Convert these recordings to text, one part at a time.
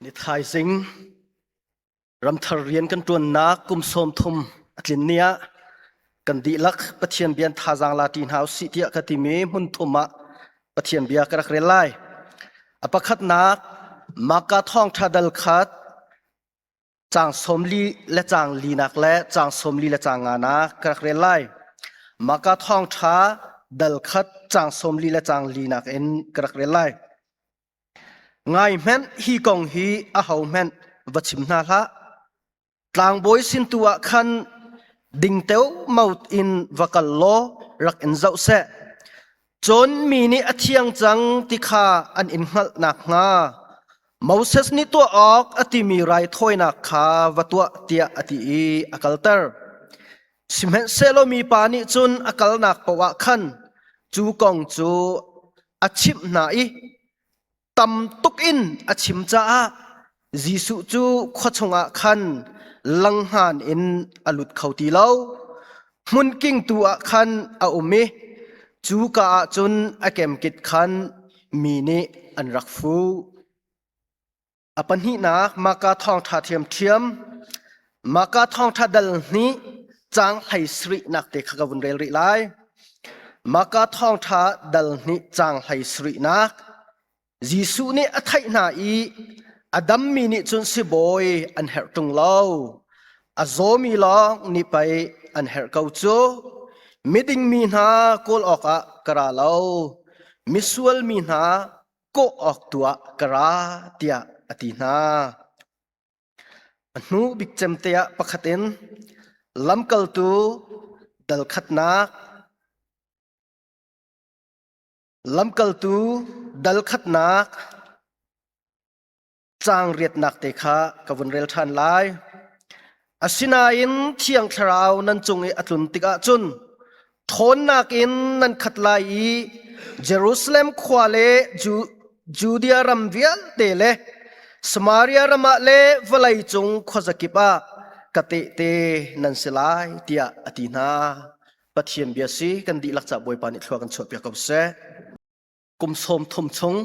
Ni thaizing ramthar rian kan ṭuannak kum sawm thum a tlin ni ah kan dihlak Pathian bia thazaang la ṭi hna usih tiah ka timi hmun thum ah Pathian bia ka rak rel lai. A pakhatnak Maka thawngṭha dal khat Caang sawm li le caang linak le caang sawm li le caang nganak ka rak rel lai. Maka thawngṭha dal khat caang sawm li le caang linak in ka rak rel lai. Ngai hmenh hi kong hi a ho hmenh va chim hna hlah. Tlangbawi sin tu ah khan ding teu maut in va kal law rak in zoh seh. Cun mi nih a thiang cang ti kha an in hngalh nakhnga Moses nih tuah awk a timi raithawinak kha va tuah tiah a ti i a kalter. Sihmanhsehlaw mipa nih cun a kalnak paoh ah khan cu kong cu a chimh hna i tam tuk in a chim caah Jesuh cu khua chungah khan langhngan in a lut kho ti lo. Hmunking tu ah khan a um i cu ka ah cun a kemkit khan mi nih an rak fu. A pahnihnak maka thawngṭha thiamṭhiam Maka thawngṭha dal nih caang hlei sarihnak te kha ka vun rel rih lai. Maka thawngṭha dal nih caang hlei sarihnak Jesuh nih a theih hna i a dammi nih cun sibawi an herh ṭung lo. A zawmi lawng ni pei an herh ko cu. Miding mi hna kawl awkah ka ra lo. Misual mi hna kawh awk tuah ka ra tiah a ti hna. A hnu bik cemte ah pakhat in lamkaltu dalkhatnak lamkaltu dalkhatnak caang riatnak te kha ka vun rel ṭhan lai. Asinain Thiang Thlarau nan cung i a tlun tikah cun ṭhawnnak in nan khat lai i Jerusalem khua le Judea ram vialte le Samaria ram ah le vawlei cung khuazakip ah ka tehte nan si lai tiah a ti hna. Pathian bia si kan dihlak ca Bawipa nih thlua kan chuahpiak ko seh. kum sawm thum chung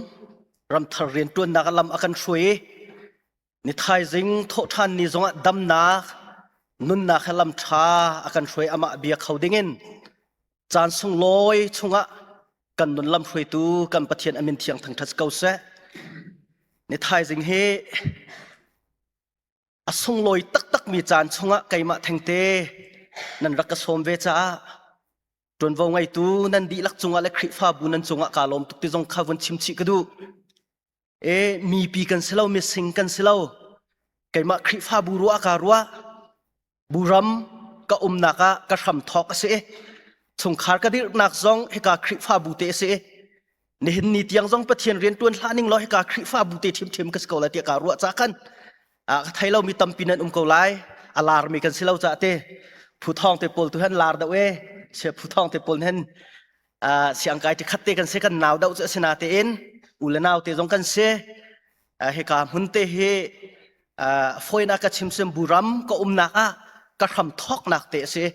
ramthar riantuannak lam a kan hruai i ni thaizing thawhthan ni zongah damnak nunnak he lam tha a kan hruai amah bia kho dingin caan sung lawi chungah kan nun lam hruaitu kan pathian amin thiang thang that ko se ni thaizing hi a sunglawi taktakmi caan chungah keimah thengte nan rak ka sawm ve caah ṭuanvo ngeitu nan dihlak cungah le Khrihfabu nan cungah kaa lawm tuk ti zong kha vun chim chih ka duh. E mipi kan si lo, mising kan si lo. Keimah Khrihfabu ruah ka ruah. Buram ka umnak ah ka hram thawk a si i chungkhar ka dirhnak zong hika Khrihfabu te a si i nihin ni tiang zong pathian rian tuan hlah ning law hika khrihfabu te ṭhimṭhim ka si ko lai tiah kaa ruah ca kan ka thei lo mi tampi nan um ko lai a lar mi kan si lo ca te phu thong te pawl tu han lar deuh e se phu thong te pawl hen siang kai te khat te kan se kan nau deuh cu asina te in u le nau te zong kan se hika hmun te hi fawinak ka chimsim buram ka umnak ah ka hram thawknak te a si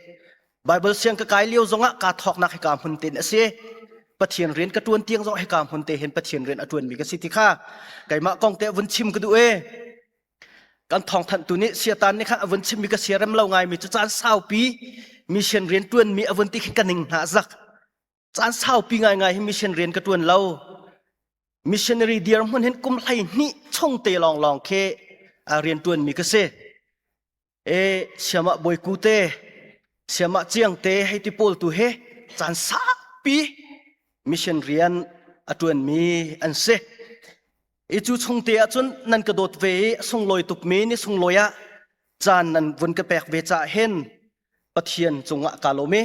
Bible siang ka kai lio zongah ka thawknak hika hmun te a si Pathian rian ka tuan tiang zong hika hmun te hin Pathian rian a tuan mi ka si ti kha keimah kong te vun chim ka du e kan thong thanh tu nih siatan ni kha avun chim mi ka siarem lo ngai mi cu caan saupi mission rian tuan mi avun ti khin ka ning hna zak caan saupi ngaingai hi mission rian ka ṭuan lo missionary dirhmun hin kum hlei hnih chung te lawnglawng khi rian ṭuan mi ka si e siamah boiku te siamah ciang te hei ti pawl tu he caan sakpi mission rian a ṭuan mi an si i cu chung te ah cun nan ka dawt ve i sunglawi tuk mi ni sunglawi ah caan nan vun ka pek ve ca hen Pathian cungah ka lawm i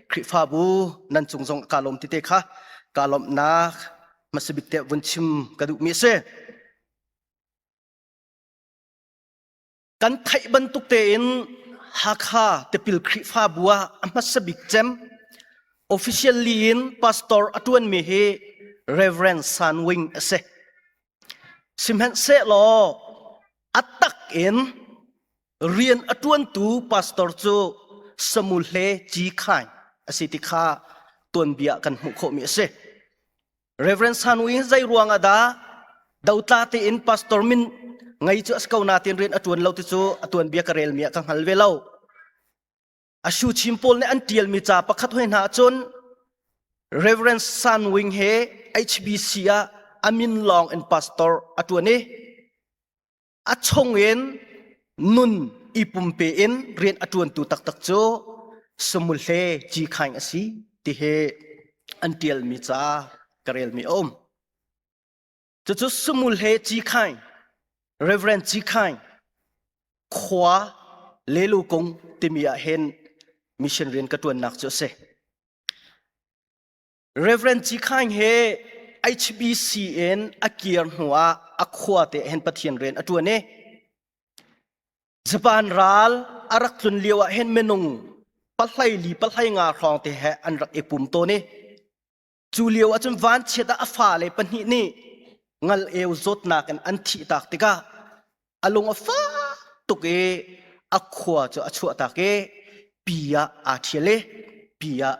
Khrihfabu nan cung zong ka lawm tete kha ka lawmhnak hmasabik te vun chim ka duhmi a si. Kan theih bantuk tein Hakha tipil Khrihfabu ah a hmasabik cem officially in pastor a ṭuanmi hi Reverend San Wing a si. Sihmanhsehlaw a tak in Rian a ṭuantu pastor cu samule ci khai a si ti kha tuanbia kan hmuh khawhmi a si. Reverend Sanwi hi zei ruang ah dah dotla tein pastor min ngei cu a si ko natin rian a ṭuan lo ti cu a tuanbia ka relmi ah ka hngal ve lo. A shu chim pawl nih an ṭialmi ca pakhat hoi hna ahcun Reverend San Wing he HBC ah a min lawng in pastor a ṭuan i a chungin nun i pumpe in rian a ṭuantu taktak cu samule ci khaing a si tihi an ṭialmi ca ka relmi a um. Cucu samule ci khaing, Reverend ci khaing, khua lelu kung timi ah hin mission rian ka ṭuannak cu a si. Reverend Ci Khaing he HBC in a kir hnu ah a khua te hen Pathian rian a ṭuan i Japan ral a rak tlun lio ah hen minung pahlai li pahlai nga hrawng te he an rak i pum tawn i cu lio ah cun vanchiat ah a fale pahnih nih ngal eu zawtnak in an thih tak tikah a lung a fak tuk i a khua cu a chuah tak i pi ah aa ṭhial i pi ah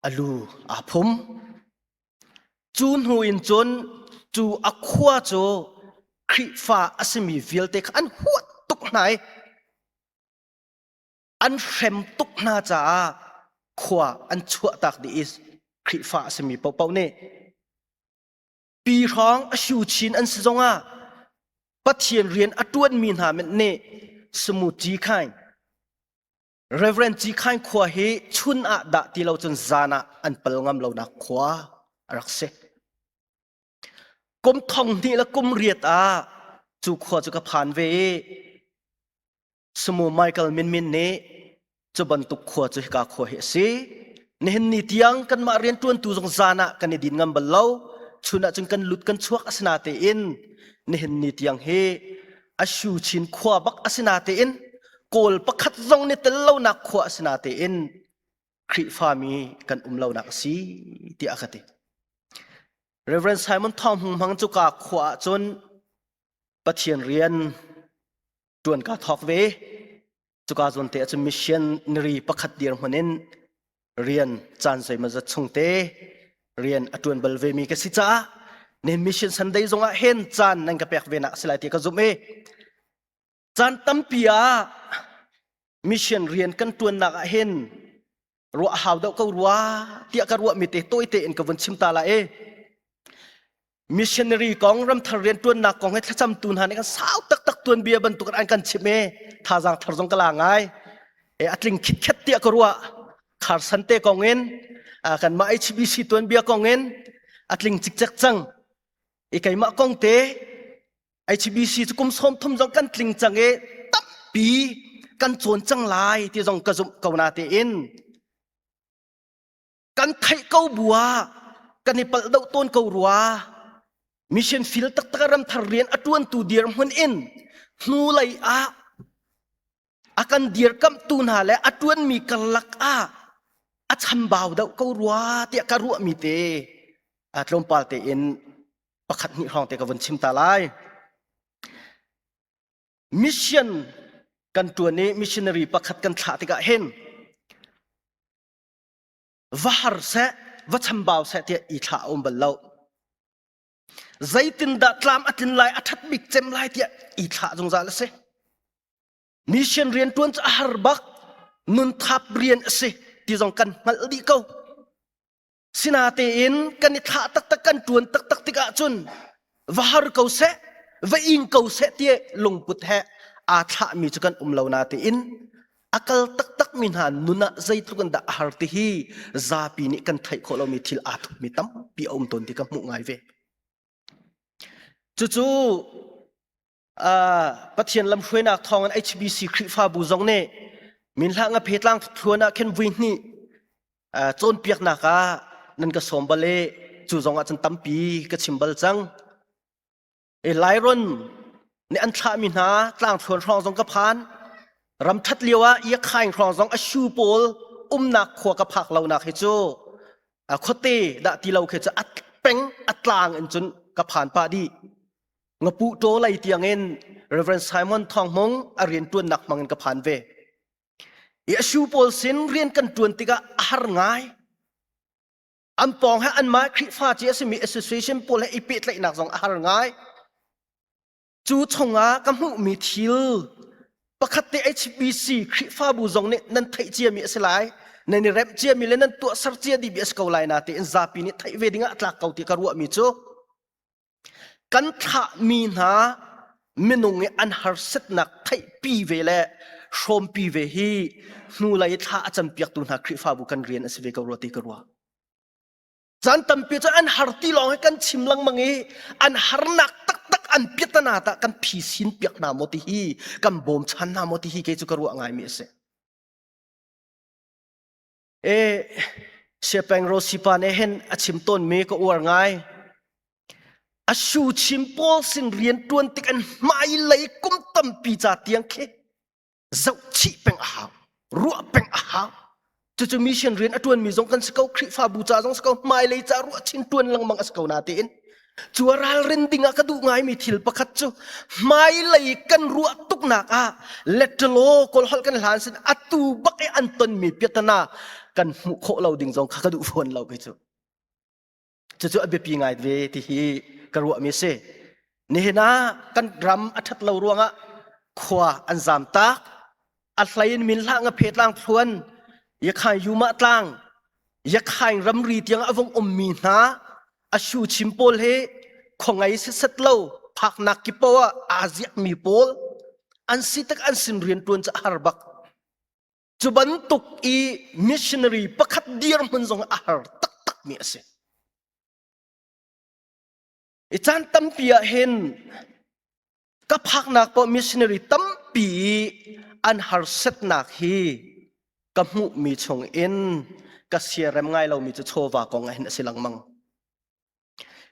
a lu aa phum. Cu hnu in cun cu a khua cu Khrihfa a simi vialte kha an huat tuk hna i an hrem tuk hna caah khua an chuahtak dih i Khrihfa a simi paohpaoh nih pi hrawng a shu chin an si zongah Pathian rian a ṭuanmi hna nih sumuci khai Reverend Cikhain khua hi chun ah dah ti lo cun zan ah an pal ngam lonak khua a rak si. Kum thong hnih le kum riat ah cu khua cu ka phan ve i Sumu Michael Minmin nih cu bantuk khua cu hika khua hi a si. Nihin ni tiang kanmah rianṭuantu zong zan ah kan i din ngam bal lo. Chun ah cun kan lut kan chuak asina tein nihin ni tiang hi a shu chin khua bak asina tein kawl pakhat zong ni tel lonak khua asina tein Khrihfami kan um lonak asi tiah ka ti Reverend Simon Thong Hung Hmang cu ka khua ah cun Pathian rian tuan ka thok ve cuka zawn te ahcun missionary pakhat dir hmun in rian caan soima zat chung te rian a tuan bal ve mi ka si caah ne mission sunday zongah hen caan nan ka pek ve nak si lai ti ka zumh i caan tampi ah mission rian kan tuan nak ah hin ruah hau deuh ko rua tiah ka ruahmi te tawite in ka vun chim ta la e missionary kong ramthar riantuannak kong he thlacamtu hna nih kan sau taktak tuan bia bantukin an kan chimh e thazaang thar zong ka la ngai e a tling khitkhet tiah ka ruah khar sante kong in kan mah HBC tuan bia kong in a tling cikcek cang i keimah kong te HBC cu kum sawm thum zong kan tling cang i tampi kan cawn cang lai ti zong ka zumh ko na te in kan theih ko bua kan i pal do ton ko rua mission field tak tak ram thar rian a tuan tu dir mun in hnu lei ah a kan dirkamhtu hna le a ṭuanmi karlak ah a chambau deuh ko rua tiah ka ruahmi te tlawmpal tein pakhat hnih hrawng te ka vun chim ta lai mission kan ṭuan i missionary pakhat kan thlah tikah hin va har seh va chambau seh tiah i thlah a um bal lo Zeitindah tlam a tlin lai, a ṭhat bik cem lai tiah i thlah zungzal a si. Mission rian ṭuan cu a har bak. Nun thap rian a si ti zong kan hngalh dih ko. Sinatein kan i thlah taktak kan ṭuan taktak tikah cun va har ko seh, va ing ko seh ti lungput he aa thlahmi cu kan um lo natein a kal taktakmi hna nun ah zeitluk in dah a har ti hi zapi nih kan theih khawh lomi thil aa tukmi tampi a um tawn ti ka hmuh ngai ve cucu pathian lamhruainak thawng in HBC Khrihfabu zong nih minhlang a phetlang thuthuan ah khen vui hnih cawnpiaknak ah nan ka sawm bal e cu zong ah cun tampi ka chim bal cang E Lairon ne an thlahmi hna tlangthluan hrawng zong ka phan. Ramthat lio ah Iakhaing hrawng zong a shu pawl umnak khua ka phak lonak hi cu a khuate dah ti lo khi cu at peng atlang in cun ka phan pa di. Ngapu to lei tiang in Reverend Simon Thong Mung a rian tuannak mangin ka phan ve. I a shu pawl sin rian kan tuan tikah a har ngai. an pawng he anmah Khrihfa ci a simi association pawl he i pehtlaihnak zong a har ngai. Cu chungah ka hmuhmi thil pakhat te HBC Khrihfabu zong nih nan theih ciami a si lai. Nan i remh ciami le nan tuahser ciami bia a si ko lai na tein zapi nih theih ve dingah tlak ko ti ka ruahmi cu kan thlahmi hna minung i an harsatnak theihpi ve le hrawmpi ve hi hnulei thla a campiaktu hna Khrihfabu kan rian a si ve ko rua ti ka ruah. Caan tampi cu an har ti lawng hi kan chim lengmang i an harnak taktak an piatana ta kan phisin piak hna maw ti hi kan bawmchan hna maw ti hi kei cu ka ruah ngaimi a si. e siapeng rosipa ne hen a chim ton mi ka uar ngai a shu chim pawl sin rian tuan tik an hmai lei kum tampi ca tiang khi zoh chih peng a hau ruah peng a hau cucu mission rian a tuan mi zong kan si ko khrihfabu ca zong si ko hmai lei ca ruah chin tuan lengmang a si ko na tiin Cu a ralrin ding ah ka duh ngaimi thil pakhat cu hmailei kan ruah tuknak ah letter law kawl holh kan hlan sin atu bak i an tonmi piatana kan hmuh khawh lo ding zong kha ka duh fawn lo kei cu. Cucu a biapi ngai ve ti hi ka ruahmi si. Nihin ah kan ram a ṭhat lo ruangah khua an zam tak. a hlei in min hlah nga phe tlang thluan yakhain yuma tlang yakhain ramri tiang a vong um mi hna a shu chim pawl he khongei set lo phaknak kipo a aziak mi pawl an si tak an sin rian tuan ca har bak cu bantuk i missionary pakhat dir mun zong a har tak tak mi a si i caan tampi ah hin ka phaknak paoh missionary tampi an harsetnak hi ka hmuhmi chung in ka siarem ngai lomi cu chawva kong ah hin a si lengmang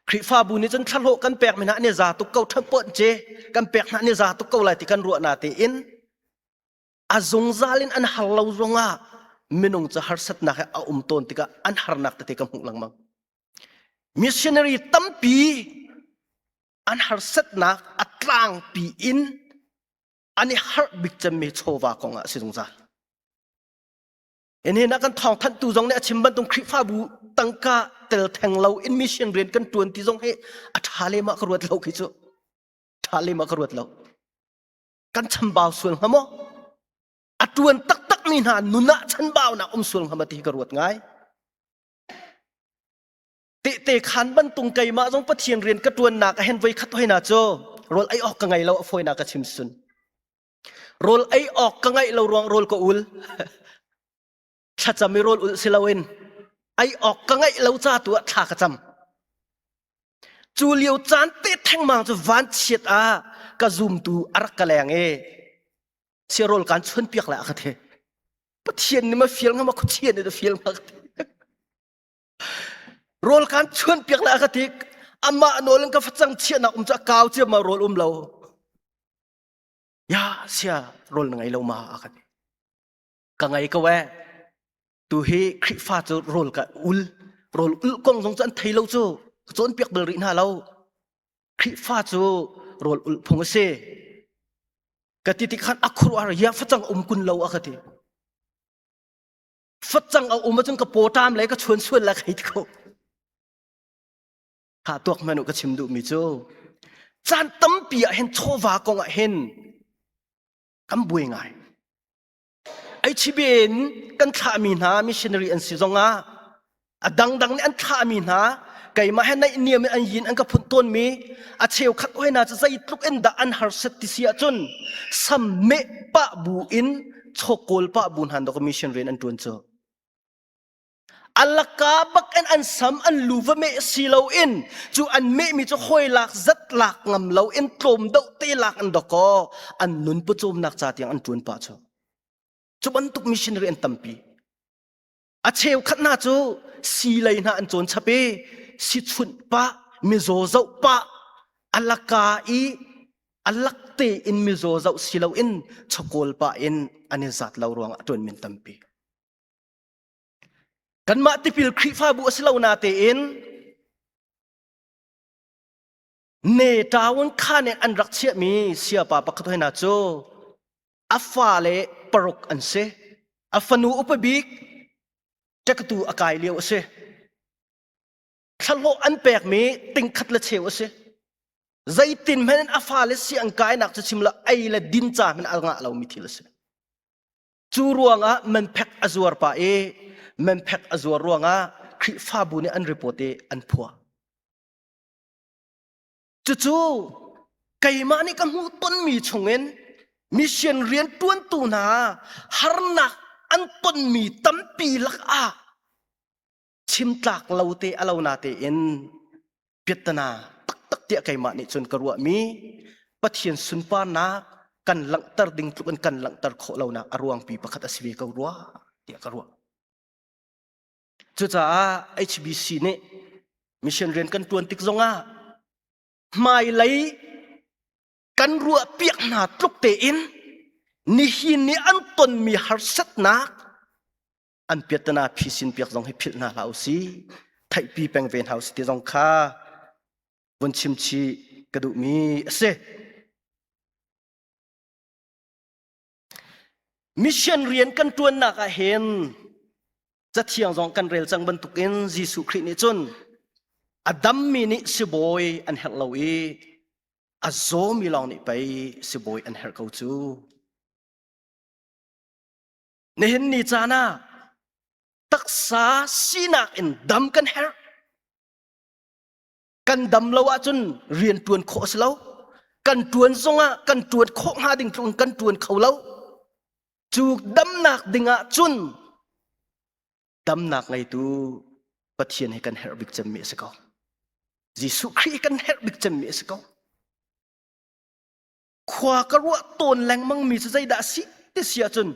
Khrihfabu nih cun thlahlawh kan pekmi hna nih za tuk ko ṭhan pawnh ce kan pek hna nih za tuk ko lai ti kan ruahna tein a zungzal in an har lo zongah minung cu harsatnak he a um tawn tikah an harnak tete ka hmuh lengmang missionary tampi an harsatnak a tlangpi in an i harh bik cemmi chawva kong ah a si zungzal in hinak kan thawng thanhtu zong nih a chim bantuk khrihfabu tangka tel theng lo in mission rian kan tuan ti zong hi a tha lem ah ka ruat lo khi cu tha lem ah ka ruat lo kan chambau sual ngam maw a tuan taktak mi hna nun ah chanbau nak um sual ngam ti ka ruat ngai te te khan bantung keimah zong pathian rian ka tuan nak a hen voi khat hoi na cho rol ai ok ka ngai lo foi na ka chim sun rol ai ok ka ngai lo ruang rol ko ul thlacam i rawl ulh si loin ei awk ka ngeih lo ca tu ah thla ka cam cu lio caan te thengmang cu van chiat ah ka zumtu a rak ka leng i siarawl kan chuan piak le a ka the pathian ni ma fial ngam a khuchian ni da fial ma ka the rawl kan chuan piak le a ka ti amma nawl in ka facang chia na um ca kau cia ma rawl um lo ya sia rawl na ngei lo ma a ka ti ka ngei ko e tu hi Khrihfa cu rawl ka ul rawl ul kong zong cu an thei lo cu ka cawn piak bal rih hna lo Khrihfa cu rawl ul phung a si ka ti ti khan a khuruar ya facang um kun lo a ka ti facang a um acun ka potam le ka chuan suan la khei ko ha tuak manu ka chim du mi cu chan tampi ah hen chawva kong ah hen kan buai ngai HBA in kan thlahmi hna missionary an si zongah a dangdang nih an thlahmi hna keimah he naihniam in an yin an ka phun tawnmi a cheukhat hoi hna cu zeitluk in dah an harsat ti si ahcun samme pah bu in chawkawl pah bu hna dok missionary an ṭuan cu Alaka bak in an sam an lu va meh si lo in cu an meh mi cu hoi lak zat lak ngam lo in tlawm do te lak an dok ko an nun pu cawmnak ca tiang an tuan pa chu cu bantuk missionary an tampi a cheu khat hna cu si lei hna an cawn chap i si chunh pa mizaw zoh pa alaka i alak te in mizaw zoh si lo in chakawl pa in an i zat lo ruang ah tuan min tampi Kanmah tipil Khrihfabu a si lo natein ne ṭaun kha nih an rak chiahmi siapa pakhat hoi hna cu a fale paruk an si. A fanu upa bik ṭektu a kai lio a si. Thlahlawh an pekmi tingkhat le cheu a si. Zeitin hmenin a fale si an kainak cu chim lo ei le din ca hmenin a ngah lomi thil a si. Cu ruangah manphek a zuar pa i manphek a zuar ruangah Khrihfabu nih an report i an phuah. Cucu keimah nih ka hmuh tonmi chungin mission rian ṭuantu hna harnak an tonmi tampi lakah chim tlak lo te a lo na tein piattana taktak tiah keimah nih cun ka ruahmi Pathian sunparnak kan langhter ding tluk in kan langhter khawh lonak a ruangpi pakhat a si ve ko rua tiah ka ruah cucaah HBC nih mission rian kan tuan tik zongah hmailei kan ruah piak hna tluk tein nihin ni an tonmi harsatnak an piattana phi sin piak zong hi philh hna hlah usi theihpi peng ve hna usi ti zong kha vun chim chi ka duh mi a si mission rian kan tuannak ah hin cathiang zong kan rel cang bantuk in Jesuh Khrih nih cun a dammi nih sibawi an herh lo i a zawmi lawng nih pei sibawi an herh ko cu Nihin ni caan ah taksa sinak in dam kan herh. Kan dam lo ahcun rian tuan khawh a si lo. Kan tuan zongah kan tuan khawh hnga ding tlung kan tuan kho lo. Cu damnak dingah cun damnak ngeitu Pathian he kan herh bik cemmi a si ko. Jesuh Khrih kan herh bik cemmi a si ko. khua ka ruah tawn lengmang mi cu zeidah si ti si ahcun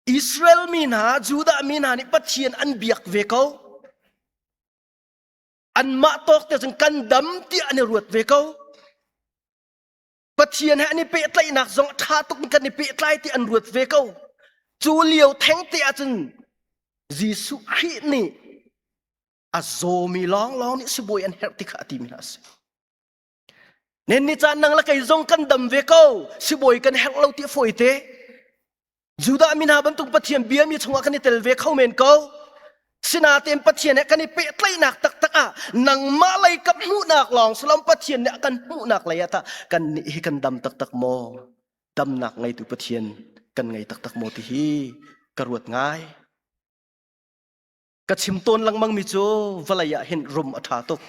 Israel mi hna Judah mi hna nih Pathian an biak ve ko anmah tawk te cun kan dam tiah an i ruat ve ko Pathian he an i pehtlaihnak zong ṭha tuk in kan i pehtlai ti an ruat ve ko cu lio theng te ahcun Jesuh Khrih nih a zawmi lawnglawng nih sibawi an herh ti kha a ti mi hna a si Nenni caan nang le kei zong kan dam ve ko. Sibawi kan herh lo ti fawi te. Judah mi hna bantuk Pathian bia mi chungah kan i tel ve kho men ko. Sinaten Pathian he kan i pehtlaihnak taktak ah nangmah lei ka hmuhnak lawng silom Pathian nih a kan hmuhnak lei ah ta kan nih hi kan dam taktak maw? Damnak ngeitu Pathian kan ngei taktak maw ti hi ka ruat ngai. ka chim tawn lengmangmi cu vawlei ah hin rum a ṭha tuk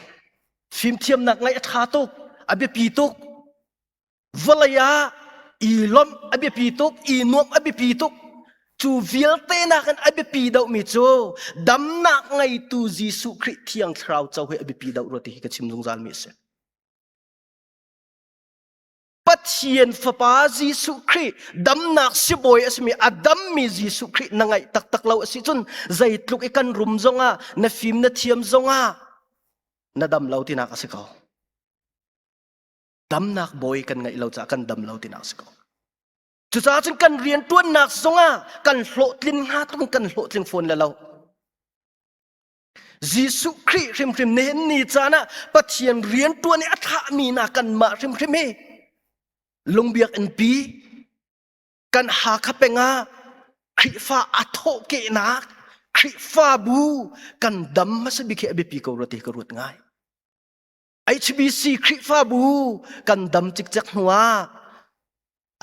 fimthiamnak ngaih a ṭha tuk a biapi tuk vawlei ah i lawmh a biapi tuk i nuamh a biapi tuk cu vialte nakin a biapi deuhmi cu damnak ngeitu Jesuh Khrih thiang thlarau co hi a biapi deuh rua ti hi ka chim zungzalmi a si Pathian Fapa Jesuh Khrih damnak sibawi a simi a dammi Jesuh Khrih na ngaih taktak lo a si cun zeitluk i kan rum zongah na fim na thiam zongah na dam lo tinak a si ko. Damnak bawi kan ngaih lo caah kan dam lo tinak a si ko. Cucaah cun kan riantuannak zongah kan hlawhtlin hnga tung kan hlawhtling fawn le lo. Jesuh Khrih hrimhrim nih ni caan ah Pathian riantuan i a thlahmi na kanmah hrimhrim hi lungbiakinnpi kan Hakha peng ah Khrihfa a thawhkehnak Khrihfabu kan dam hmasa bik hi a biapi ko rua ti ka ruat ngai. HBC Khrihfabu kan dam cikcek hnuah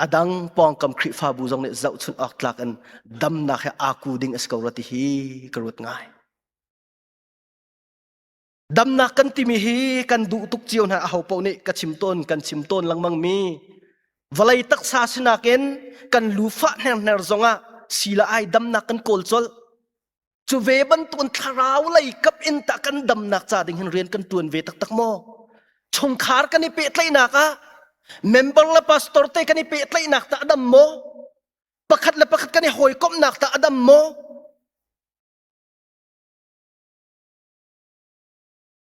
a dang pawngkam Khrihfabu zong nih zohchunh awk tlak in damnak he aaku ding a si ko rua ti hi ka ruat ngai. Damnak kan timi hi kan duh tuk cio hna aho paoh nih ka chim tawn kan chim tawn lengmang mi vawlei taksa sinak in kan lu fah hner hner zongah sila ai damnak kan kawl colh Cu ve bantukin thlarau lei kap in tah kan damnak ca ding hin rian kan tuan ve taktak maw? Chungkhar kan i pehtlaihnak ah member le pastor te kan i pehtlaihnak tah a dam maw? Pakhat le pakhat kan i hawikomhnak tah a dam maw?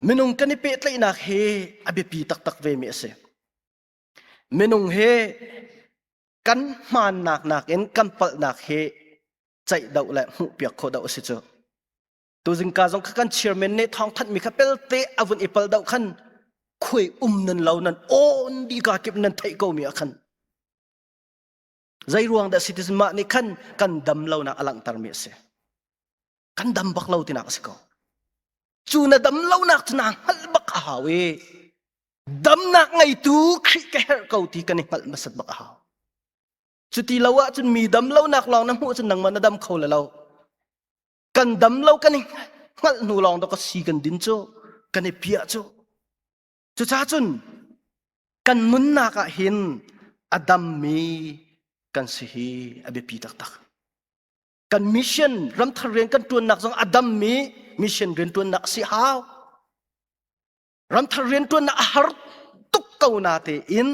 Minung kan i pehtlaihnak he a biapi taktak vemi a si. Minung he kan hmaannak nakin kan palhnak hi ceih do le hmuhpiak khawh do a si cu. Tuzing ka zong kha kan chairman nih thawng thanmi kha pelte avun i pal do khan khui um nan lo nan awn di ka kip nan theih ko mi ah khan Zeiruang dah citizen mah nih khan kan dam lonak a langhtermi a si. Kan dam bak lo tinak a si ko. Cu na dam lonak cu naa hngalh bak a hau i damnak ngeitu Khrih ka herh ko ti kan i hngalh masat bak a hau. Cuti lo ah cun mi dam lonak lawng na hmuh cun nangmah na dam kho le lo. Kan dam lo kan i hngalh hnu lawng to ka si kan din cu kan i piah cu Cucah cun kan nunnak ah hin a dammi kan si hi a biapi taktak. Kan mission ramthar rian kan ṭuannak zong a dammi mission rianṭuannak a si hau. Ramthar rianṭuannak a har tuk ko na tein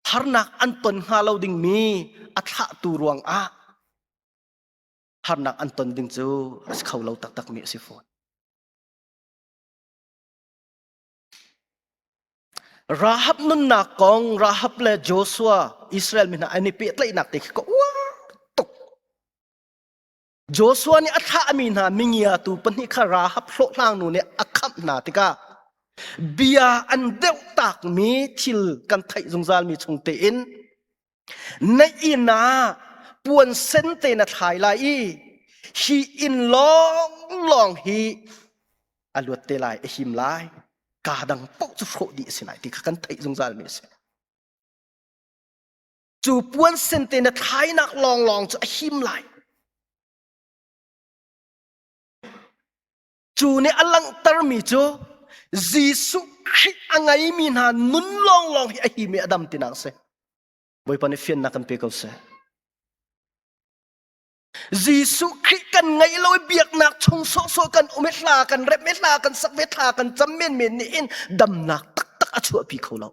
harnak an ton hnga lo dingmi a thlahtu ruang ah harnak an ton ding cu a si kho lo taktakmi a si fawn. Rahab nunnak kong Rahab le Joshua Israel mi hna an i pehtlaihnak te khi ka uar tuk. Joshua nih a thlahmi hna mingiatu pahnih kha Rahab hlawhhlang nu nih a khamh hna tikah bia an deuh takmi thil kan theih zungzalmi chung tein na inn ah puan sen te na thlai lai i hi inn lawnglawng hi a luat te lai a him lai kaa dang paoh cu hrawh dih a si lai ti kha kan theih zungzal mi a si cu puan sen te na thlainak lawnglawng cu a him lai Cu nih a langhtermi cu Jesuh Khrih a ngeimi hna nun lawnglawng hi a himi Adam tinak a si. Bawipa nih fiannak kan pe ko seh. Jesuh Khrih kan ngeih lo i biaknak chung sawhsawh kan um i hla kan rep i hla kan sak ve hla kan cam menmen nih in damnak taktak a chuahpi kho lo.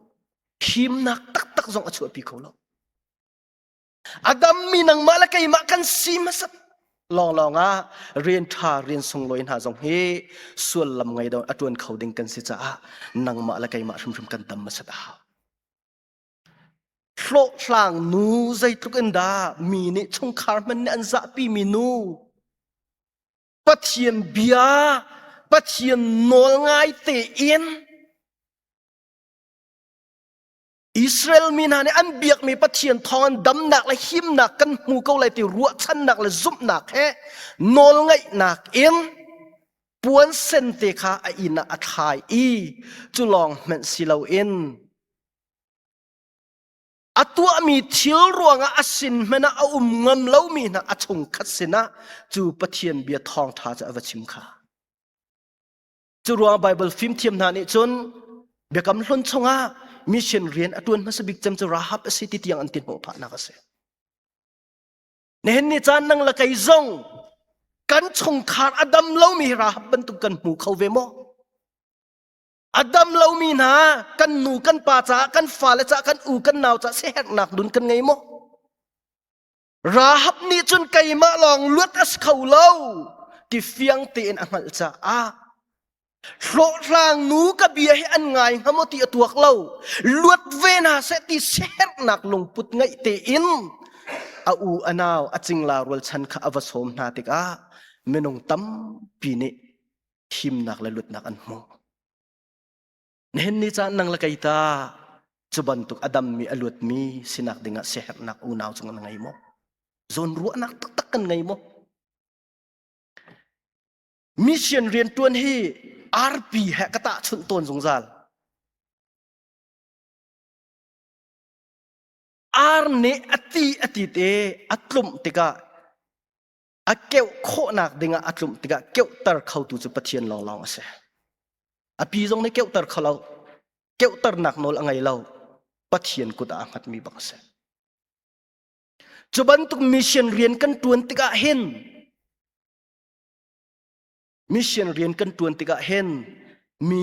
Himnak taktak zong a chuahpi kho lo. Adam mi nangmah le keimah kan si hmasat lawnglawng ah rian ṭha rian sunglawi hna zong hi sullam ngei dong a ṭuan kho ding kan si caah nangmah le keimah hrimhrim kan tam hmasat a hau. Hlawhhlang nu zeitluk in dah mi nih chungkhar hman nih an zahpi mi nu Pathian bia Pathian nawl ngai te in Israel mi hna nih an biakmi Pathian thawng an damnak le himnak kan hmu ko lai ti ruahchannak le zumhnak he nawlngaihnak in puansen te kha a inn ah a thlai i cu lawng hmanh si loin a tuahmi thil ruangah a sin hmanh ah a um ngam lomi hna a chung khat sinah cu Pathian bia thawngṭha cu a va chim kha. Curuang Bible fimthiam hna nih cun biakam hlun chungah mission rian a tuan hmasa bik cem cu Rahab a si ti tiang an tin hmuh phahnak a si. Nihin ni caan nang la kei zong kan chungkhar a dam lomi Rahab bantuk kan hmu kho ve maw? A dam lomi hna kan nu kan pa caah kan fale caah kan u kan nau caah siherhnak dun kan ngei maw? Rahab nih cun keimah lawng luat a si kho lo ti fiang tein a hngalh caah hlawhhlang nu ka bia hi an ngai hnga maw ti a tuak lo luat ve na seh ti siherhnak lungput ngeih tein a u a nau a cingla rualchan kha a va sawm hna tikah minung tampi nih thimnak le luatnak an hmu. Na hen ni caan nang le kei ta cu bantuk a dammi a luatmi sinak dingah siaherhnak unau cung na ngei maw? Zawn ruahnak taktak kan ngei maw? Mission riantuan hi arpi he ka tah chunh tawn zungzal. Ar nih a ti a ti te a tlumh tikah a keuh khawhnak dingah a tlumh tikah keuhter khotu cu Pathian lawnglawng a si. A pi zong nih keuhter kho lo. Keuhternak nawl a ngei lo. Pathian kut ah a hngatmi bak a si. Cu bantuk mission rian kan tuan tikah hin mission rian kan tuan tikah hin mi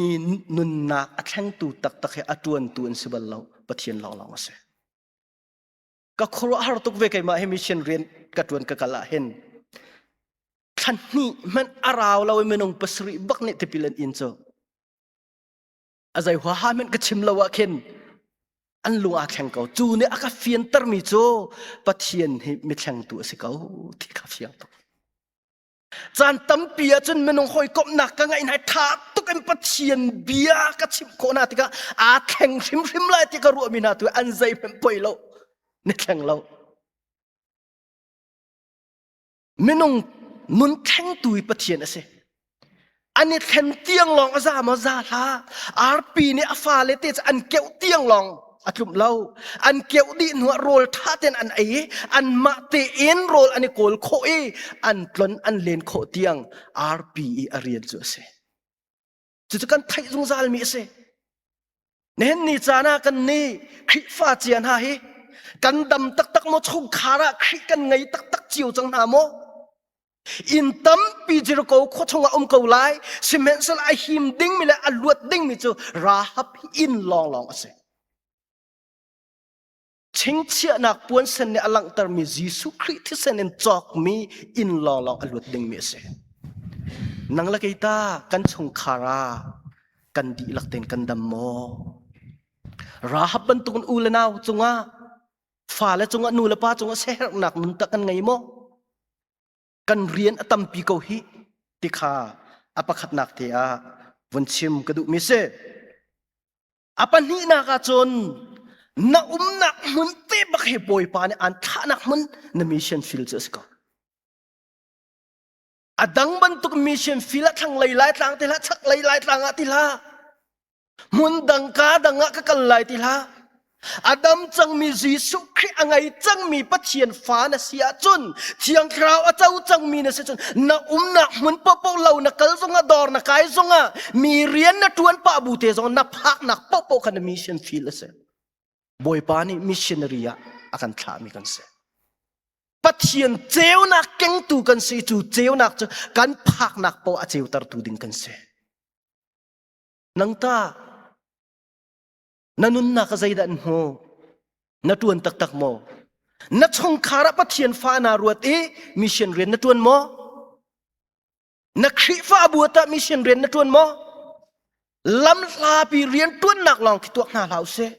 nunnak a thlengtu taktak hi a tuantu an si bal lo. Pathian lawnglawng a si. ka khuaruahhar tuk ve keimah hi mission rian ka tuan ka kal ah hin thlan hnih hmanh a rau lo i minung pasarih bak nih tipilan in cu a zei hua ha hmanh ka chim lo ah khin an lung aa thleng ko cu nih a ka fianter mi cu pathian hi mi thlengtu a si ko ti ka fiang tuk Caan tampi ahcun minung hawikomhnak ka ngeih hna i ṭha tuk in Pathian bia ka chimh khawh hna tikah aa thleng hrimhrim lai ti ka ruahmi hna tu an zeihmanh poi lo. Ni thleng lo. Minung nun thlengtu hi Pathian a si. an i thlen tiang lawng a za maw za hlah arpi nih a fale te cu an keuh tiang lawng a tlum lo an keuh dih hnu ah rawl ṭha ten an ei i an mah tein rawl an i kawl khawh i an tlon an len khawh tiang arpi i a rian cu a si cucu kan theih zungzal mi a si Nihin caan ah kan nih Khrihfa cia hna hi kan dam taktak maw chungkhar ah Khrih kan ngei taktak cio cang hna maw? Inn tampi Jericho khua chungah um ko lai sihmanhsehlaw a him dingmi le a luat dingmi cu rahab in lawnglawng a si. Chingchiahnak puansen nih a langhtermi Jesuh Khrih thisen in cawkmi inn lawnglawng a luat dingmi a si. Nang la kei ta kan chungkhar ah kan dihlak tein kan dam maw? Rahab bantukin u le nau cungah fale cungah nu le pa cungah sehernak nun tak an ngei maw? Kan rian a tampi ko hi ti kha a pakhatnak te ah vun chim ka duhmi si. a pahnihnak ah cun na umnak hmun te bak he bawipa nih aan thahnak hmun na mission field cu a si ko a dang bantuk mission field a thlanglei laitlang ti hlah chaklei laitlang ah ti hlah hmun dang ka dang ah ka kal lai ti hlah a dam cangmi Jesuh Khrih a ngei cangmi Pathian fa na si ahcun thiang thlarau a co cangmi na si cun na umnak hmun paohpaoh lo na kal zongah dor na kai zongah mi rian na ṭuan pah bu te zong na phaknak paohpaoh kha na mission field a si bawipa nih missionary ah a kan thlahmi kan si pathian ceunak kengtu kan si cu ceunak cu kan phaknak paoh a ceutertu ding kan si nang ta na nunnak zeidah an hmu na ṭuan taktak maw na chungkhar ah pathian fa naa ruat i mission rian na ṭuan maw na khrihfabu ah mission rian na ṭuan maw lamhlapi rian ṭuannak lawng khi tuak hna hlah usih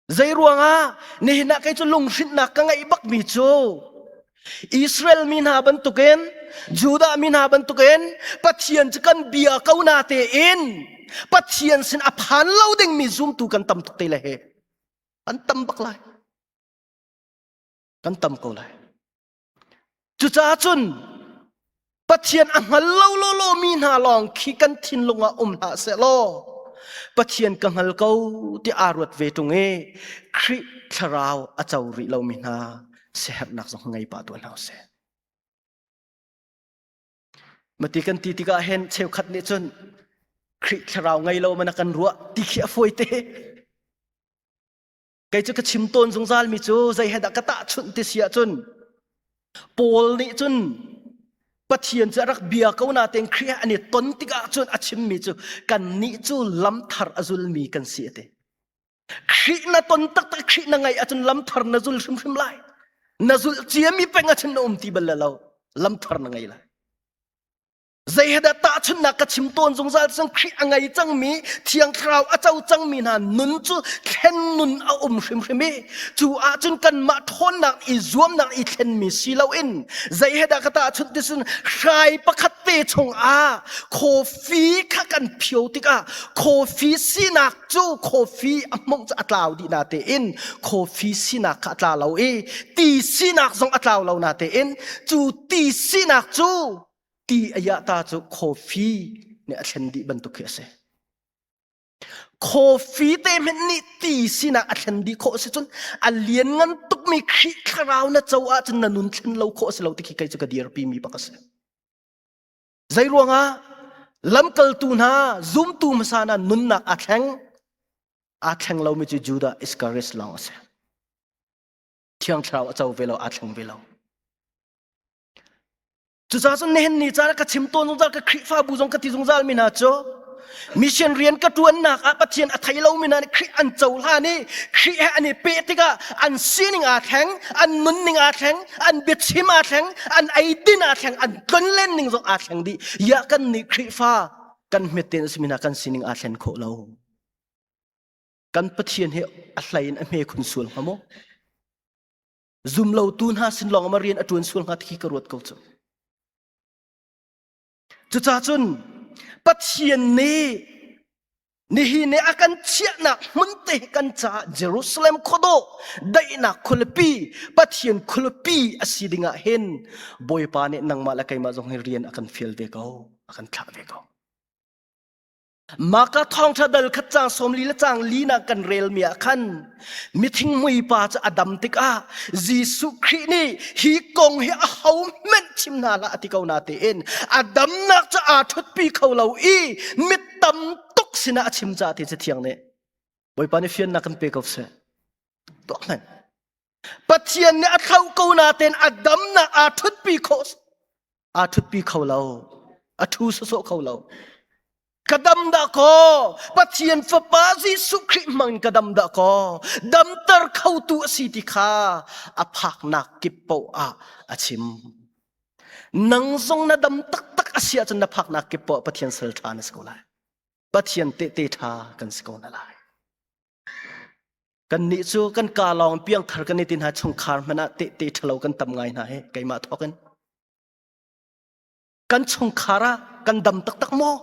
Zei ruangah? Nihin ah kei cu lunghrinhnak ka ngeih bakmi cu Israel mi hna bantukin Judah mi hna bantukin Pathian cu kan bia ko na tein Pathian sin a phan lo dingmi zumtu kan tam tuk te le he an tam bak lai. Kan tam ko lai. Cucaah cun Pathian a hngal lo lawlawmi hna lawng khi kan thinlung ah um hlah seh law Pathian ka hngal ko ti aa ruat ve ṭung i Khrih thlarau a co rih lomi hna siaherhnak zong ngei pah tuah hna sih. Mati kan ti tikah hen cheukhat nih cun Khrih thlarau ngei lo man a kan ruah ti khi a fawi te. kei cu ka chim tawn zungzalmi cu zei he dah ka tahchunh ti si ahcun Paul nih cun Pathian cu a rak bia ko natein Khrih an i ton tikah cun a chimmi cu kannih cu lamthar a zulmi kan si a ti. Khrih na ton taktak Khrih na ngaih ahcun lamthar na zul hrimhrim lai. Na zulh ciami peng ahcun na um ti bal lo. Lamthar na ngei lai. zei he dah tahchunhnak ka chim tawn zungzal sang Khrih a ngei cangmi thiang thlarau a co cangmi hna nun cu thlen nun a um hrimhrim i cu ahcun kanmah ṭhawnnak i zuamnak i thlenmi si loin zei he dah ka tahchunh ti sun hrai pakhat te chung ah coffee kha kan phio tikah coffee sinak cu coffee a mong cu a tlau dih na tein coffee sinak kha a tla lo i ti sinak zong a tlau lo na tein cu ti sinak cu ti a yahta cu coffee nih a thlen dih bantuk khi a si. Coffee te hmet nih ti sinak a thlen dih khawh a si cun a lian ngan tukmi Khrih thlarau na co ahcun na nun thlen lo khawh a si lo ti khi kei cu ka dirpi mi bak a si. Zei ruangah lamkaltu hna zumtu hmasa hna nunnak aa thleng aa thleng lomi cu Judah Iscariot lawng a si. Thiang thlarau a co ve lo aa thleng ve lo. Cucacun nihin ni caah ka chim tawn zungzal ka Khrihfabu zong ka ti zungzal mi hna cu mission rian ka ṭuannak ah Pathian a thei lomi hna nih Khrih an cohlan i Khrih he an i peh tikah an sining aa thleng, an nunning aa thleng, an biachim aa thleng, an eidin aa thleng, an tlonlen ning zong aa thleng dih. Iah kan nih Khrihfa kan hmetten a simi hna kan sining aa thlen khawh lo. Kan Pathian he a hlei in a hme khun sual hnga maw? zumlotu hna sin lawng ma rian a ṭuan sual hnga ti ka ruat ko cu cucah cun pathian nih nihi ne a kan chiahnak hmun te kan caah jerusalem khodo daihnak khualipi pathian khualipi a si dingah hin bawipa nih nangmah le keimah zong hi rian a kan fial ve ko a kan thlah ve ko Maka thawngtha dal khat cang som li le cang li na kan rel mi ah khan mithing muipa cu a dam tikah Jesuh Khrih nih hi kong hi a ho hmenh chim hna la ati ko na tiin a damnak cu aa thutpi kho lo i mit tam tuk sinah a chim ca ti cu thiang nih Bawipa nih fiannak kan pe ko seh tuak hmanh Pathian nih a thlauh ko natein a damnak aa ṭhutpi kho aa ṭhutpi kho lo. A ṭhu sawsawh kho lo. Ka dam dah kaw Pathian fapa Jesuh Khrih hmang ka dam dah kaw damter khotu a si ti kha a phaknak kip paoh ah a chim. Nang zong na dam taktak a si ahcun na phaknak kip paoh Pathian sal ṭha na si ko lai. Pathian tehte ṭha kan si ko na lai. Kannih cu kan ka lawng piangthar kan i ti hna chungkhar hmanh ah tehte ṭhalo kan tam ngai hna he keimah thawkin. Kan chungkhar ah kan dam taktak maw?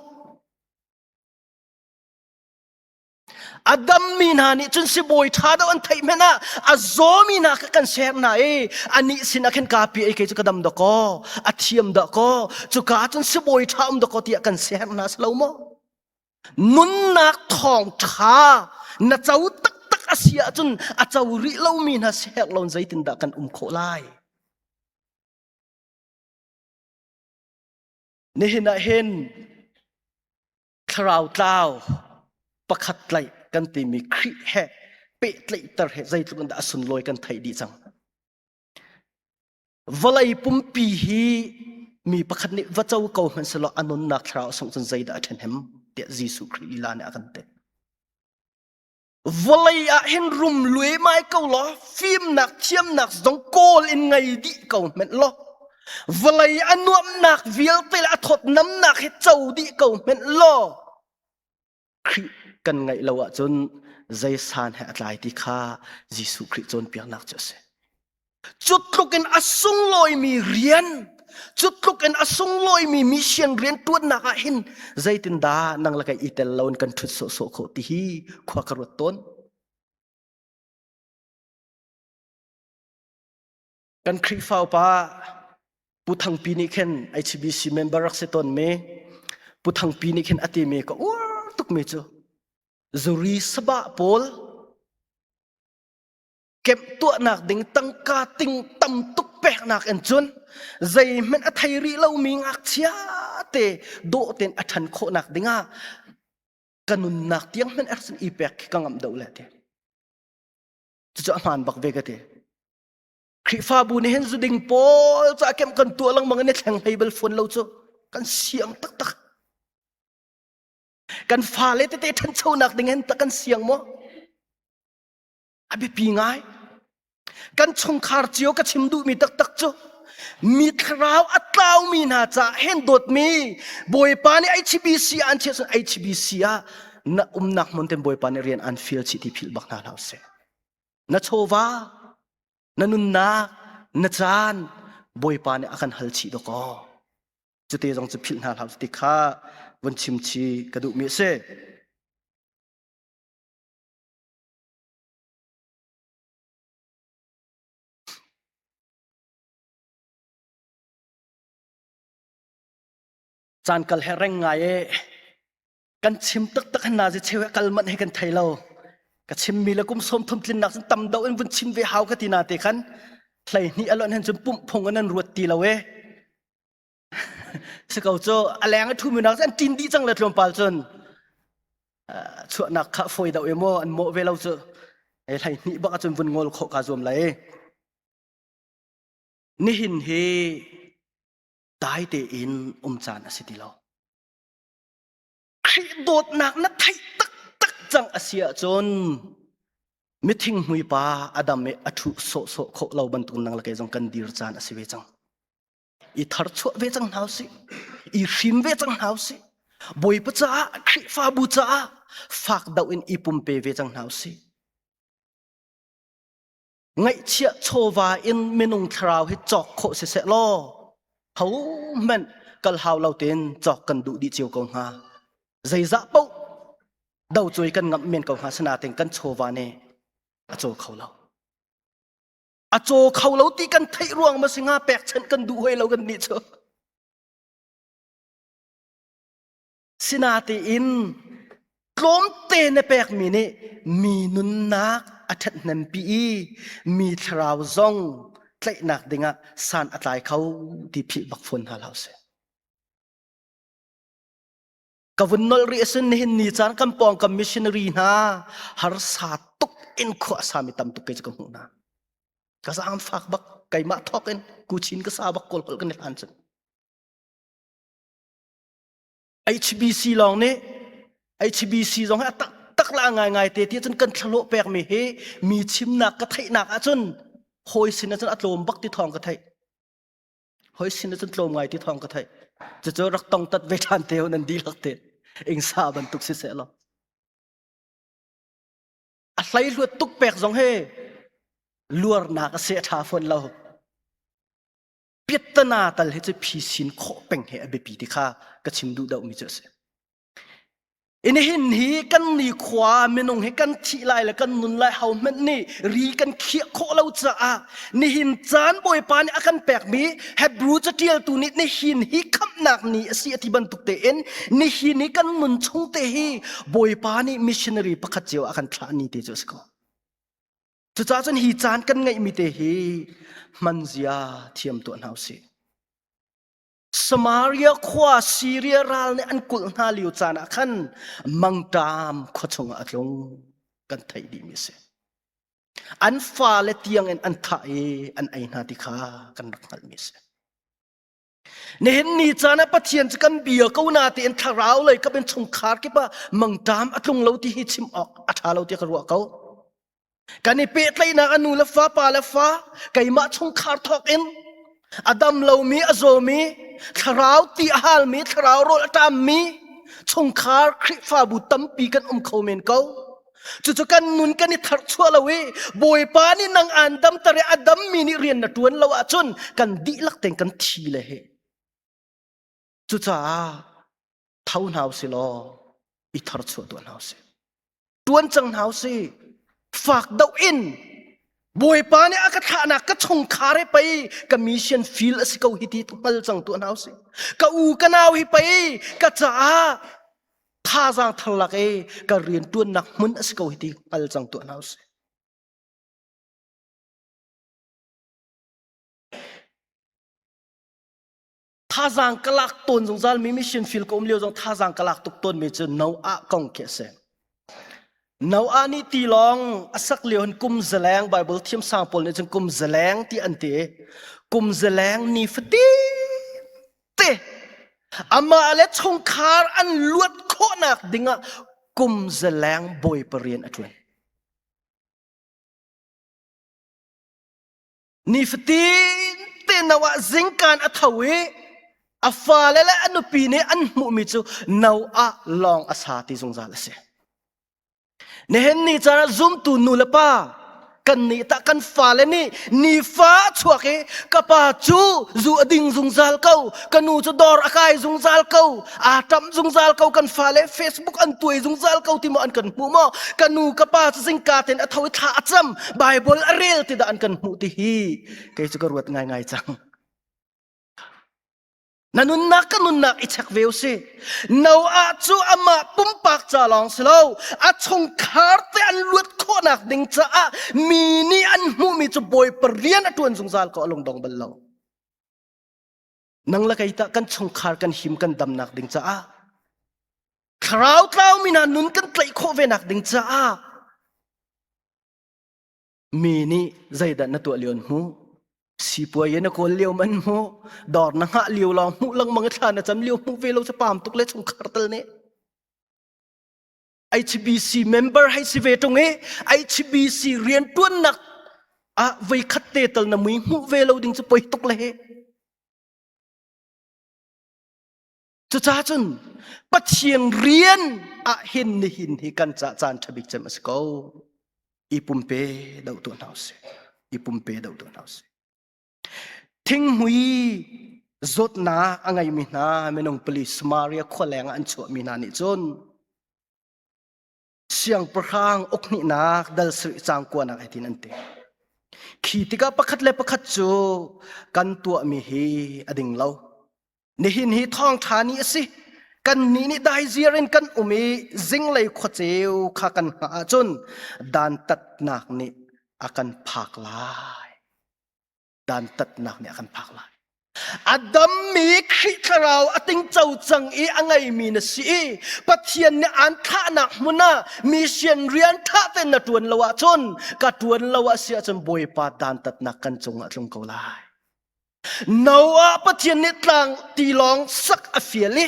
A dammi hna nih cun sibawi ṭha deuh an theih hmanh ah a zawmi hna kha kan ser hna i anih sinah khin kapi ei kei cu ka dam dah kaw a thiam dah kaw cuka ah cun sibawi ṭha um dah kaw tiah kan ser hna si lo maw? nunnak thawngṭha na co taktak a si ahcun a co rih lomi hna sehek loin zeitindah kan um khawh lai? Nihin ah hin thlarau tlau pakhat tlaih kan timi Khrih he pehtlaihter he zeitluk in dah a sunlawi kan theih dih cang. Vawlei pumpi hi mi pakhat nih va co ko hmanhselaw a nunnak thlarau sungh cun zeidah a ṭhen hem tiah Jesuh Khrih lila nih a kan pek. Vawlei ah hin rum luemai ko law fimnak thiamnak zong kawl in ngei dih ko hmenh law vawlei a nuamnak vialte le a thawt namnak hi co dih ko hmenh law Khrih kan ngaih lo ahcun zei san he a tlai ti kha Jesuh Khrih cawnpiaknak cu a si. Cutluk in a sunglawimi rian, cutluk in a sunglawimi mission rian tuannak ah hin zeitindah nang le kai i tel loin kan ṭhut sawhsawh khawh ti hi khua ka ruat tawn. Kan Khrihfa upa Pu Thangpi nih khin HBC member rak si tawn me. Pu Thangpi nih khin ati me ka uar tuk me cu. Zuri saba pawl kemp tuahnak ding tangka ting tam tuk peknak in cun zeihmanh a thei rih lo mi ngakchia te dawh ten a than khawhnak dingah ka nunnak tiang hman ersin i pek khi ka ngam do le te. Cucu a hmaan bak ve ka ti. Khrihfabu nih hin zuding pawl cu a kem kan tuah lengmang in a thleng hlei bal fuan lo cu kan siang taktak. Kan fale tete ṭhanchonak ding hin tak kan siang maw? A biapi ngai. Kan chungkhar cio ka chim duhmi taktak cu mi thlarau a tlaumi hna caah hen dawtmi Bawipa nih HBC ah an chiah cun HBC ah na umnak hmun ten Bawipa nih rian an fial chih ti philh bak hna hlah usih. na chawva na nunnak na caan bawipa nih a kan hal chih dawk kaw cute zong cu philh hna hlah ti kha von chim chi ka duhmi a si caan kal he reng ngai e kan chim taktak hin na zi cheu he kal manh he kan thei lo ka chim mi le kum sawm thum tlin nak cun tam do in vun chim ve hau ka ti na te khan hlei hni alon hen cun pumh phung an ruat ti lo e se ko cho aleng thu mi nak an tin di chang le tlom pal chun chuah nak kha foi da e mo an mo ve lo chu e hlei hni baka chun vun ngol kho ka zuam la e nihin hi dai te in um chan asi ti lo Khrih dawtnak na theih taktak cang a si ahcun mithingmui pa Adam i a ṭhu sawhsawh khawh lo bantuk nang le kei zong kan dir caan a si ve cang. I tharchuah ve cang hna usih. I hrim ve cang hna usih. Bawipa caah, Khrihfabu caah fak dau in i pumpe ve cang hna usih. ngaihchiah chawva in minung thlarau hi cawk khawh siseh law ho hmanh kal hau lo tein cawk kan duh dih cio ko hnga zeizah poh do cui kan ngam men ko hnga sina ting kan chawva ne a caw kho lo a caw kho lo ti kan theih ruang ma singa pekchanh kan duh hoi lo kan nih cu Sinatiin tlawmte na pekmi nih mi nunnak a ṭhathnempi i mi thlarau zong tlaihnak dingah san a tlai kho ti phih bak fawn hna hlah usih. Ka vun nol rih asun nihin ni caan kan pawng kan missionary hna harsa tuk in khua sami tam tuk ke ka hmuh hna. Ka zaam fak bak keimah thawk in kuchin ka sa bak kol kol kan i hlan cun. HBC lawng nih HBC zong hi a taktak la ngaingai te ti cun kan thlalo pekmi hi mi chimnak ka theihnak ahcun hawi sin ahcun a tlawm bak ti thawng ka theih hawi sin ahcun tlawm ngai ti thawng ka theih cucu rak tong tat ve ṭhan te hun an dihlak te ingsa bantuk si seh law a hlei hluat tuk pek zong hi luarnak a seh ṭha fawn lo piattana tal he cu phi sin khawh peng he a biapi ti kha ka chim duh deuhmi cu a si in hin hi kan ni khua minung hi kan thih lai le kan nun lai ho hmanh nih ri kan khiah khawh lo caah nihin caan bawipa nih a kan pekmi hebrew catialtu nih nihin hi khamhnak ni a si a ti bantuk tein nihin hi kan nun chung te hi bawipa nih missionary pakhat cio a kan thlah ni te cu a si ko Cucaah cun hi caan kan ngeihmi te hi hmanzia thiam tuah hna usih. Samaria khua Siria ral nih an kulh hna lio caan ah khan mangṭam khua chungah a tlung kan theih dihmi a si. An fale tiangin an thah i an ei hna ti kha kan rak hngalhmi a si. Nihin ni caan ah Pathian cu kan bia ko na tein thlarau lei ka bin chungkhar kip ah mangṭam a tlung lo ti hi chim awk a ṭha lo ti ka ruah ko. Kan i pehtlaihnak a nu le fa pa le fa keimah chungkhar thawk in a dam lomi a zawmi thlarau ti a halmi thlarau rawl a ṭammi chungkhar Khrihfabu tampi kan um kho men ko. Cucu kan nun kan i tharchuah lo i Bawipa nih nang aan damter i a dammi nih rian na ṭuan lo ahcun kan dihlak tein kan thi le he. Cucaah tho hna u sih law i tharchuah tuah hna u sih. Ṭuan cang hna u sih. Fak deuh in Bawipa nih a ka thlahnak ka chungkhar hi pei ka mission field a si ko hi ti hngal cang tuah hna u sih. Ka u ka nau hi pei ka caah thazaang thar lak i ka rianṭuannak hmun a si ko hi ti hngal cang tuah hna usih. Thazaang ka lak tawn zungzal mi mission field ka um lio zong thazaang ka lak tuk tawn mi cu no ah kong khi a si. No ah nih ti lawng a sak lio hin kum zaleng Bible thiam sang pawl nih cun kum zaleng ti an ti. Kum zaleng ni fatin te amah le chungkhar an luat khawhnak dingah kum zaleng bawi parian a ṭuan nifatin te no ah zingkan a tho i a fale le a nupi nih an hmuhmi cu no ah lawng a sa ti zungzal a si Nihin ni caah zumtu nulepa kan nih tah kan fale nih ni fa chuak i ka pa cu zu a ding zungzal ko ka nu cu dawr a kai zungzal ko aa ṭam zungzal ko kan fale Facebook an tuai zungzal ko ti maw an kan hmuh maw ka nu ka pa cu zingka ten a tho i thla a cam Bible a rel ti dah an kan hmuh ti hi kei cu ka ruat ngaingai cang Na nunnak ka nunnak i chek ve u si. Noah cu amah pumpak ca lawng si lo, a chungkhar te an luat khawhnak ding caah mi nih an hmuhmi cu bawi parian a ṭuan zungzal ko a lungdong bal lo. Nang le kei tah kan chungkhar kan him kan damnak ding caah thlarau tlaumi hna nun kan tlaih khawh ve nak ding caah mi nih zeidah na tuah lio hmu sipuai na kawl lio man mu dor na ngah lio lo mu langmang i thla na cam lio mu ve lo cha pam tuk le chungkhar tal ne HBC member hai si ve tung i HBC rian tuannak ah vei khat te tal na mui mu ve lo ding chu poi tuk le he Cucaah cun Pathian rian ah hin nihin hi kan ca caan ṭha bik cem a si ko. I pumpe doh tuah hna usih. I pumpe doh tuah hna usih. Thinghmui zawtnak a ngeimi hna minung pali Samaria khua leng ah an chuahmi hna nih cun siangpahrang ukhnihnak dalsarih cangkuanak hitin an ti khi tikah pakhat le pakhat cu kan tuahmi hi a ding lo nihin hi thawngṭha ni a si kan nih nih daizir in kan um i zinglei khuaceu kha kan hngah ahcun dantatnak nih a kan phak lai dantatnak nih a kan phak lai a dammi Khrih Thlarau a tingco cang i a ngeimi na si i Pathian nih aan thlahnak hmun ah mission rian tha ten na tuan lo ahcun ka tuan lo ah si ahcun Bawipa dantatnak kan cungah tlung ko lai Noah Pathian nih tlang tilawng sak a fial i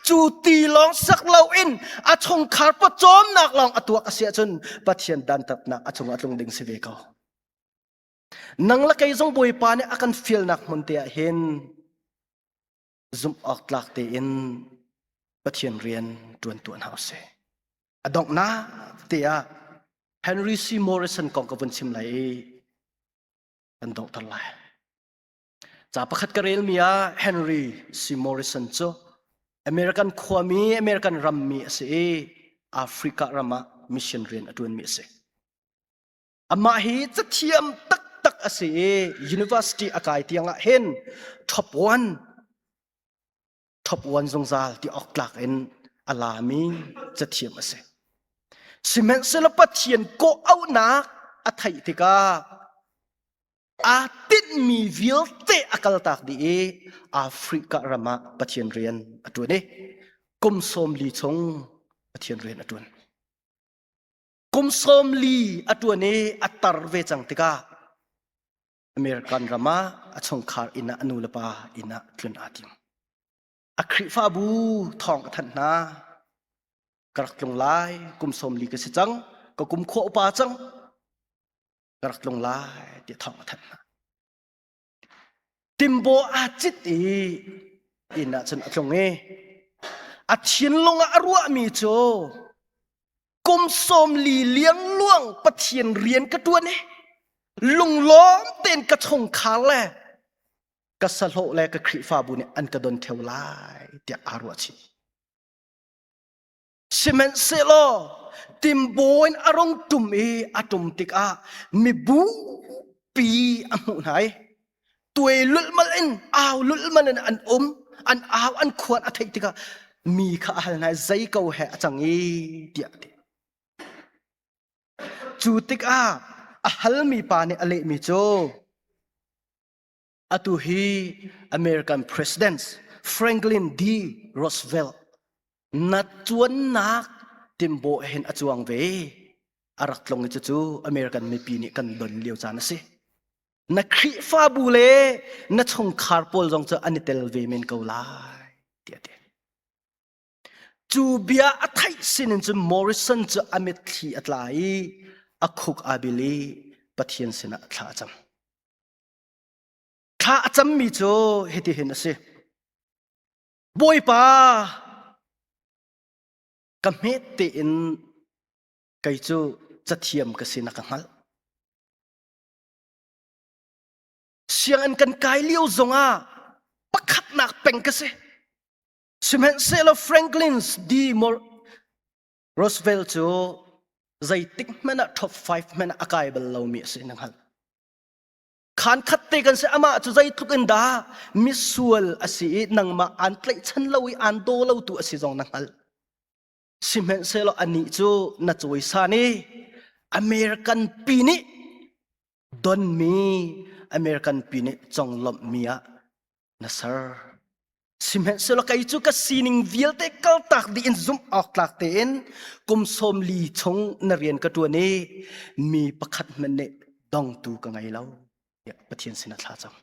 cu tilawng sak lo in a chungkhar pawcawmnak lawng a tuak a si ahcun Pathian dantatnak a chungah tlung ding si ve ko nang le kei zong Bawipa nih a kan fialnak hmun te ah hin zumh awk tlak tein Pathian rian ṭuan tuah hna usih. A donghnak te ah Henry C. Morrison kong ka vun chim lai i kan donghter lai. Ca pakhat ka relmi ah Henry C. Morrison cu American khuami, American rammi a si i Africa ram ah mission rian a ṭuanmi a si. Amah hi cathiam taktak a si i university a kai tiangah hin top one top one zungzal ti awk tlak in a lami cathiam a si. Sihmanhsehlaw Pathian kawhauhnak a theih tikah aa tinhmi vialte a kaltak dih i Africa ram ah Pathian rian a ṭuan i kum sawm li chung Pathian rian a ṭuan. kum sawm li a ṭuan i a tar ve cang tikah American ram ah a chungkhar inn ah a nulepa inn ah tlun aa tim. A Khrihfabu thawng a thanh hna. Ka rak tlung lai, kum sawm li ka si cang, ka kum khua upa cang, ka rak tlung lai, tiah thawng a thanh hna. Timbaw aa cit i inn ah cun a tlung i a thinlung ah a ruahmi cu kum sawm li liangluang Pathian rian ka ṭuan i lunglawm tein ka chungkhar le ka sahlawh le ka Khrihfabu nih an ka don theo lai tiah aa ruahchih. Sihmanhsehlaw timbo in a rung tum i a tum tikah mibu pi a hmuh hna i tuai lulmal in au lulmal in an um an au an khuan a theih tikah mi kha a hal hna zei ko he a cang i tiah a ti cu tikah a halmi pa nih a lehmi cu atu hi American President Franklin D. Roosevelt nat cuannak timbo hen a cuang ve arak tlong i cucu American mipi nih kan don lio caan a si na Khrihfabu le na chungkhar pawl zong cu an i tel ve men ko lai tiah ti cu bia a theih sinin cu Morrison cu a mit thli a tla i a khuk a bil i Pathian sinah thla a cam Thla a cammi cu hitihin a si. Bawipa, ka hmet tein kei cu cathiam ka si na ka hngalh. Sianginn kan kai lio zongah pakhatnak peng ka si. Sihmanhsehlaw Franklin's D. Roosevelt cu zeitik hmanh ah top five hmanh ah a kai bal lomi a si na hngalh. Khankhat te kan si amah cu zeitluk in dah misual a si i nangmah aan tlaihchan lo i aan daw lo tu a si zong na hngalh. Sihmanhsehlaw anih cu na cawisan i American pi nih donmi American pi nih conglawmhmi ah Na ser. Sihmanhsehlaw kei cu ka sining vialte kaltak dih in zumh awktlak tein kum sawm li chung na rian ka ṭuan i mi pakhat hmanh nih dongtu ka ngei lo tiah Pathian sin a thla cang.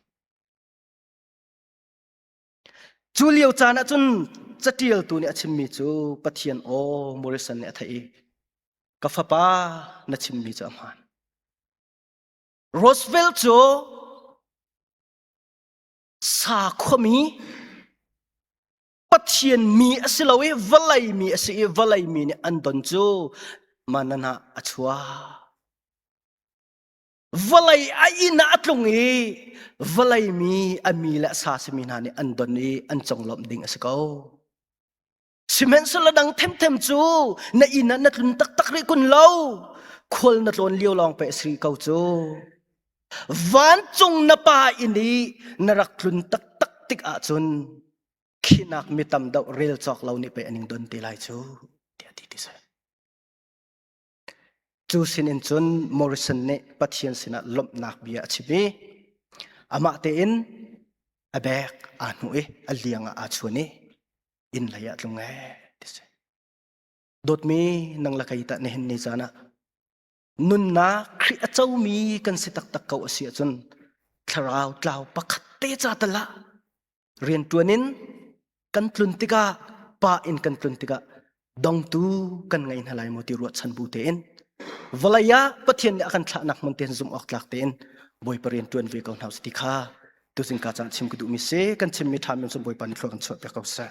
Cu lio caan ah cun caṭialtu nih a chimmi cu Pathian aw Morrison nih a theih i ka fapa na chimmi cu a hmaan. Roosevelt cu sakhuami Pathian mi a si lo i vawlei mi a si i vawlei mi nih an don cu mananah a chuah vawlei a inn ah a tlung i vawlei mi a mi le a sa simi hna nih an don i an conglawmh ding a si ko Sihmanhsehlaw dang themthem cu na inn ah na tlun taktak rih kun lo. Khual na tlawn lio lawng pe a si ko cu. Vancung na pa inn i na rak tlun taktak tik ahcun khinak mi tam deuh rel cawk lo nih pei a ning don te lai cu. Tiah ti ti seh. Cu sinin cun Morrison nih Pathian sinah lawmhnak bia a chim i amah tein a bek aa hnuh i a liang ah aa chuan i inn lei ah tlung ee ti si. Dawtmi nang le kei tah nihin ni caan ah nunnak Khrih a comi kan si taktak ko a si ahcun thlarau tlau pakhat te ca tal ah rianṭuan in kan tlun tikah pa in kan tlun tikah dongtu kan ngei hna lai maw ti ruahchan bu tein vawlei ah pathian nih a kan thlahnak man tein zumh awk tlak tein bawipa rian ṭuan ve ko hna ti kha tuzing ka caan chim ka duhmi si kan chimmi ṭha men cu bawipa nih thlua kan chuah piak ko seh